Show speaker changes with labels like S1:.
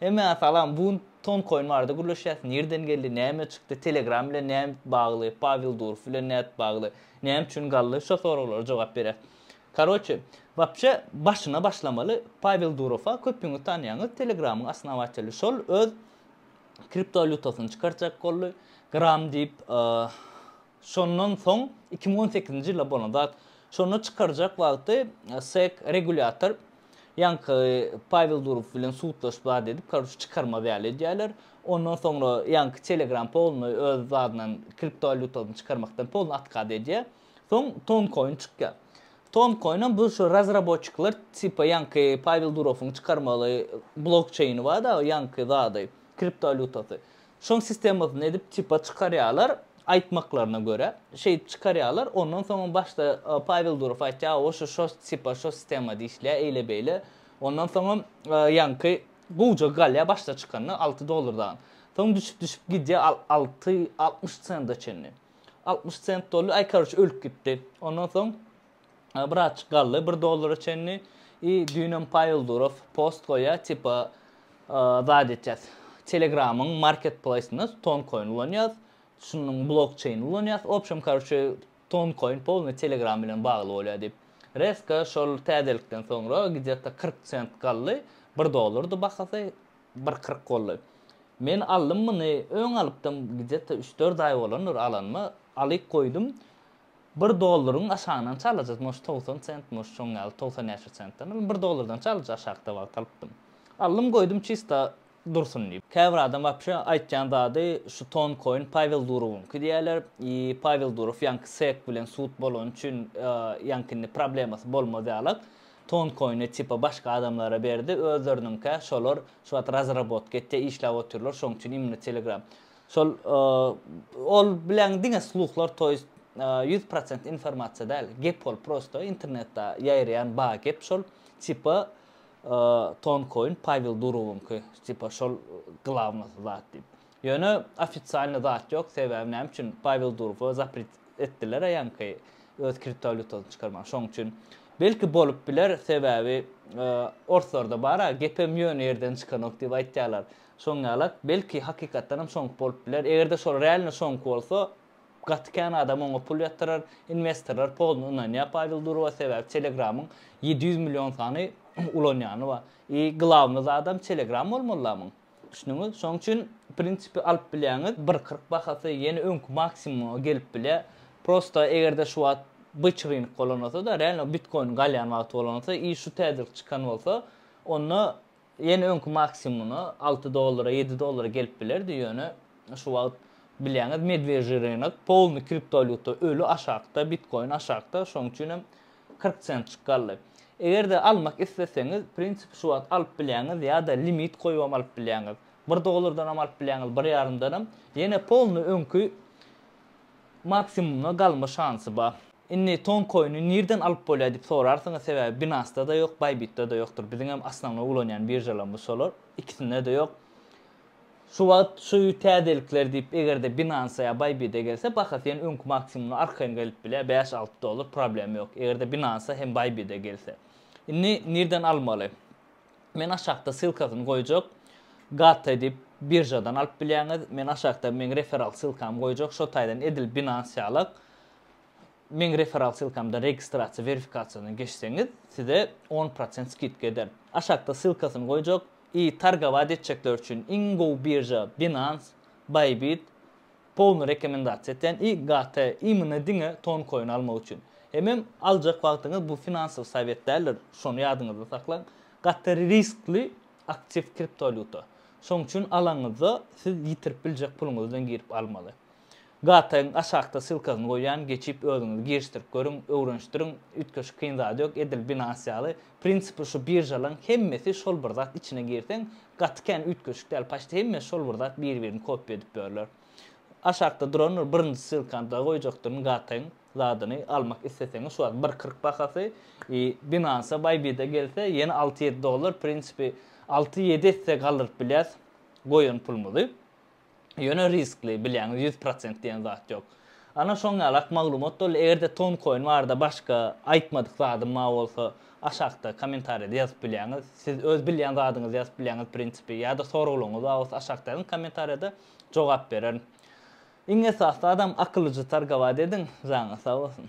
S1: Hemmäňe salam bu gün ton koin barada gürleşýäs nirden geldi näme çykdy telegram bilen näme bagly pawel durov bilen nädip bagly näme üçin galdy şo soraglara jogap berýäs karoçe wapşe başyna başlamaly pawel durowa köpüňiz tanýaňyz telegramyň osnowateli şol öz kriptowalýutasyny çykarjak boldy gram diýip Şondan soň iki müň on sekizinji ýylda bolan zat. Şonda çykarjak wagty SEK regulýator ýaňky Pawel Durow bilen sudlaşyp zat edip karoç çykarmaz ýaly edýärler. Ondan soňra ýaňky Telegram polny öz zadyndan kriptowalýutasyny çykarmakdan polny atkaz edýär. Soň Toncoin çykýar. Toncoin hem bu şu razraboçikler tipa ýaňky Pawel Durowuň çykarmaly blokçeýni bar dagy ýaňky zady kriptowalýutasy. Şoň sistemasyny edip tipa çykarýarlar, aýtmaklaryna görä, şeýdip çykarýarlar, ondan soňam başda Pawel Durow aýtýar, o şu şo tipa şo sistemada işleýär, eýle-beýle, ondan soňam ýaňky gowjak galýar başda çykanda alty dollar dagyň. Soň düşüp-düşüp gidýär al alty altmyş senta çenli. Altmyş sent dolýar, aý karoç ölüp gitdi. Ondan soň Birazjyk galdy bir dollara çenli. I düýnem Pawel Durov post goýýar, tipa zat etýäs. Telegramyň marketplaýsynda Toncoin ulanýas, şunuň blokçeýnini ulanýas. W obşem, karoçe, Toncoin polny Telegram bilen bagly bolýar diýip. Reska şol täzelikden soňra gde-ta kyrk sent galdy. Bir dollardy bahasy, bir kyrk boldy. Men aldym muny, öň alypdym, gde-ta üç-dört aý bolandyr alanyma. Alyp goýdum. Bir dollaryň aşagyna nçe alajas moş togsan sent moş şoň ýaly togsan näçe sentden alyň bir dollardan nçe alaja aşakda wagt alypdym aldym goýdum çista dursun diýip. Käbir adam wapşe aýtýan zady şu ton koin Pawel Durowyňky diýýärler i Pawel Durow ýaňky sek bilen sud bolany üçin ýaňky indi problemasy bolmaz ýalak ton koini tipa başga adamlara berdi özleriniňkä şolar şu wagt razrabotka etýär işläp otyrlar şoň üçin imni telegram Şol ol bilen diňe sluhlar toýst ýüz prosent informasiýa däl gep ol prosto internetda ýaýraýan ba gep şol tipa tonkoin Pawel Durowyňky tipa şol glawnosy zat diýip ýöne ofitsialny zat ýok sebäbi näme üçin Pawel Durowa zapret etdiler a ýaňky öz kriptowalýutasyny çykarmaga şoň üçin belki bolup biler sebäbi orslarda bar a gepem ýöne ýerden çykanok diýip aýtýarlar Şoň ýala, belki hakykatdanam şoňk bolup biler. Eger-de şol realno şoňk bolsa, gaty kän adam oňa pul ýatyrar. Inwestorlar pozny ynanýar Pawel Durowa, sebäbi Telegramyň ýedi ýüz million sany ulanýany bar. I glawny zadam Telegram bolmaly adamyň. Düşündiňiz? Şoň üçin prinsipi alyp bilýäňiz, bir kyrk bahasy ýene öňki maksimuma gelip bilýär. Prosta eger-de şu wagt byç rynyk bolan bolsa-da, realno bitkoýn galýan wagty bolan bolsa i şu täjirlik çykan bolsa, onda Ýene öňki maksimumyna alty dollara, ýedi dollara gelip bilerdi, ýöne şu wagt bilýäňiz medwejýi rynok, polny kriptowalýuta öli aşakda, bitkoin aşakda, şonuň üçin hem kyrk sentjik galdy. Eger-de almak isleseňiz, prinsipi şu wagt alyp bilýäňiz ýa-da limit goýubam alyp bilýäňiz. Bir dollardanam alyp bilýäňiz, bir ýarymdanam. Ýene polny öňki. Maksimumda galma şansy bar. Indi ton koiny nirden alyp bolýar diýip sorarsyňyz sebäbi binasda-da ýok baybitda-da ýokdur biziňem osnownoý ulanýan biržalarymyz şolar ikisinde-de ýok şu wagt şu täzelikler diýip egerde binansa ýa baybide gelse bahasy ýene öňki maksimumdan arkaýyn gelip bilýär bäş alty dollar problema ýok egerde binansa hem baybide gelse indi nirden almaly. Men aşakda ssylkasyny goýjak. Gata edip biržadan alyp bilýäňiz. Men aşakda meň referral ssylkamy goýjak. Şo taýdan edil Binance ýalak. Meň referral ssylkamdan registrasiýa werifikasiýadan geçseňiz size on prosent skidka eder. Aşakda ssylkasyny goýjak. I targowat etjekler üçin iň gowy birža Binance, Bybit, Powny rekomendasiýa etýän i gt imyny diňe ton koin almak üçin. Hemem aljak wagtyňyz bu finansowy sowet däldir, şony ýadyňyzda saklaň. Gaty riskli aktiw kriptowalýuta. Şoň üçin alaňyzda siz ýitirip biljek puluňyz bilen girip almaly. GTň aşakda ssylkasyny goýýan geçip özüňiz girişdirip görüň, öwrenişdiriň, üýtgeşik kyn zady ýok, edil binance ýaly Prinsipi şu biržalaň hemmesi şol bir zat içine girseň gaty kän üýtgeşik däl paçti hemmesi şol bir zat bir birini kopia edip börler aşakda durandyr birinji ssylkany da goýjakdyryn gatyň zadyny almak isleseňiz şu wagt bir kyrk bahasy i binansa bybit'e gelse ýene alty ýedi dollar prinsipi alty ýedi esse galdyryp bilýäs goýan pulumyzy. Ýöne riskli, bilýäňiz, ýüz prosent diýen zat ýok. Ana şoň ýalak maglumat boldy, eger-de Toncoin barada başga aýtmadyk zadym bar bolsa, aşakda kommentariýada ýazyp bilýäňiz. Siz öz bilýän zadyňyzy ýazyp bilýäňiz prinsipi, ýa-da soraglaryňyz bar bolsa aşakda ýazyň kommentariýada, jogap bererin. Iň esasy zadam akyllyja targowat ediň, janyňyz sag bolsun.